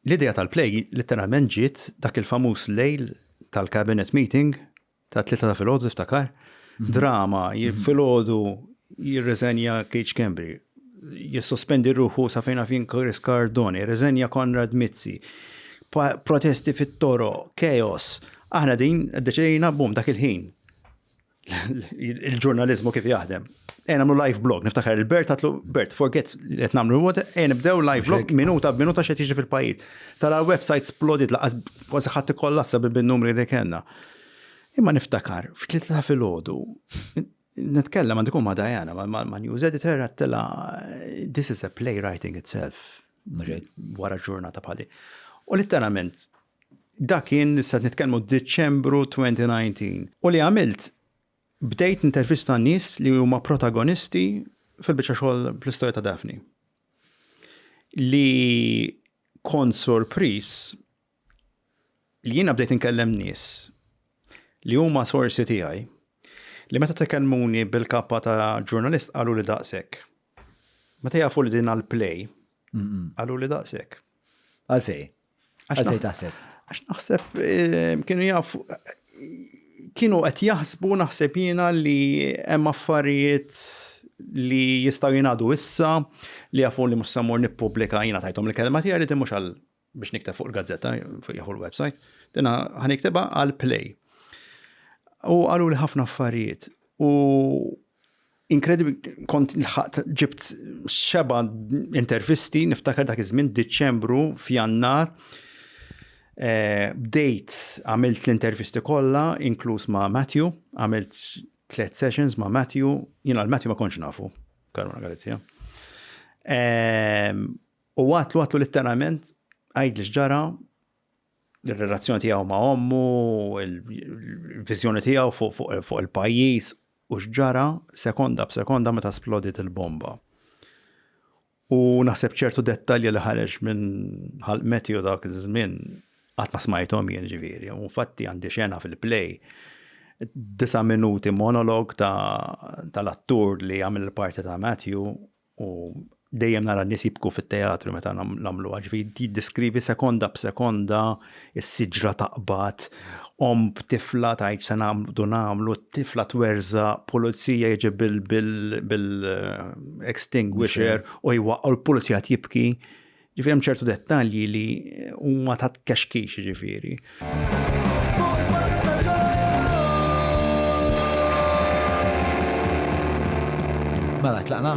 L-idea tal-play litteralment ġiet dak il-famuż lejl tal-cabinet meeting tat-tlieta ta' filgħodu tiftakar? Mhm. Drama, mhm. filgħodu jirriżenja Cage Cambry, jissospendi ruħu sa fejna fin Chris Cardone, jirriżenja Konrad Mizzi, protesti fit-toro, chaos. Aħna din deċidejna bum dak il-ħin. il-ġurnalizmu kif jaħdem. Ejn għamlu live blog, niftakar il-Bert għatlu, Bert, forget li qed nagħmlu l ejn nibdew live blog minuta b'minuta x'qed jiġri fil-pajjiż. Tara l-website splodit laqas kważi ħadd ikollassa bin-numri li kellna. Imma niftakar, f'tlieta ta' filgħodu, nitkellem għandikum ma' Diana, ma' news editor għattela, this is a playwriting itself, wara ġurnata bħali. U litteralment, Dak kien issa qed nitkellmu Diċembru 2019. U li għamilt bdejt intervista nies li huma protagonisti fil-biċċa xogħol fl-istorja ta' Daphne. Li kont sorpris li jiena bdejt inkellem nies li huma sorsi tiegħi li meta tekellmuni bil-kappa ta' ġurnalist qalu li daqshekk. Meta jafu li din għal play, Għallu li daqsek. Għalfej. Għalfej taħseb. Għax naħseb eh, kienu jaf kienu qed jaħsbu naħseb jiena li hemm affarijiet li jistaw jinadu issa li jafu li mussa mur nipublika jina tajtom li kelma tijari ti mux għal biex nikteb fuq il-gazzetta, fuq jafu l-website, dina ħanikteba għal play. U għalu li ħafna affarijiet. U inkredibli, kont l-ħat ġibt xeba intervisti, niftakar dak iż-żmien Diċembru f'Jannar. Eh, bdejt għamilt l-intervisti kollha, inkluż ma' Matthew, għamilt tliet sessions ma' Matthew, jina l-Matthew ma konx nafu, Karuna Galizja. Ehm, U għatlu għatlu litteralment għidli x'ġara l-relazzjoni tiegħu ma' ommu, il-viżjoni tiegħu fuq il-pajjiż u x'ġara sekonda b'sekonda meta splodit il-bomba. U naħseb ċertu dettalji li ħareġ minn ħalq Matthew dak iż-żmien qatt ma smajthom jien ġifieri. U fatti għandi xena fil-play disa minuti monolog tal-attur li għamil il-parti ta' Matthew U dejjem nara n-nies jibku fit-teatru meta nagħmlu ġifi jiddeskrivi sekonda b'sekonda s-siġra taqbad, om b'tifla tajt se nagħmlu nagħmlu, tifla twerża, pulizija jiġi bil-extinguisher u jwaqqgħu l-pulizija jibki. Ġifieri hemm ċertu dettalji li huma ta' kexkix ġifieri. Mela tlaqna.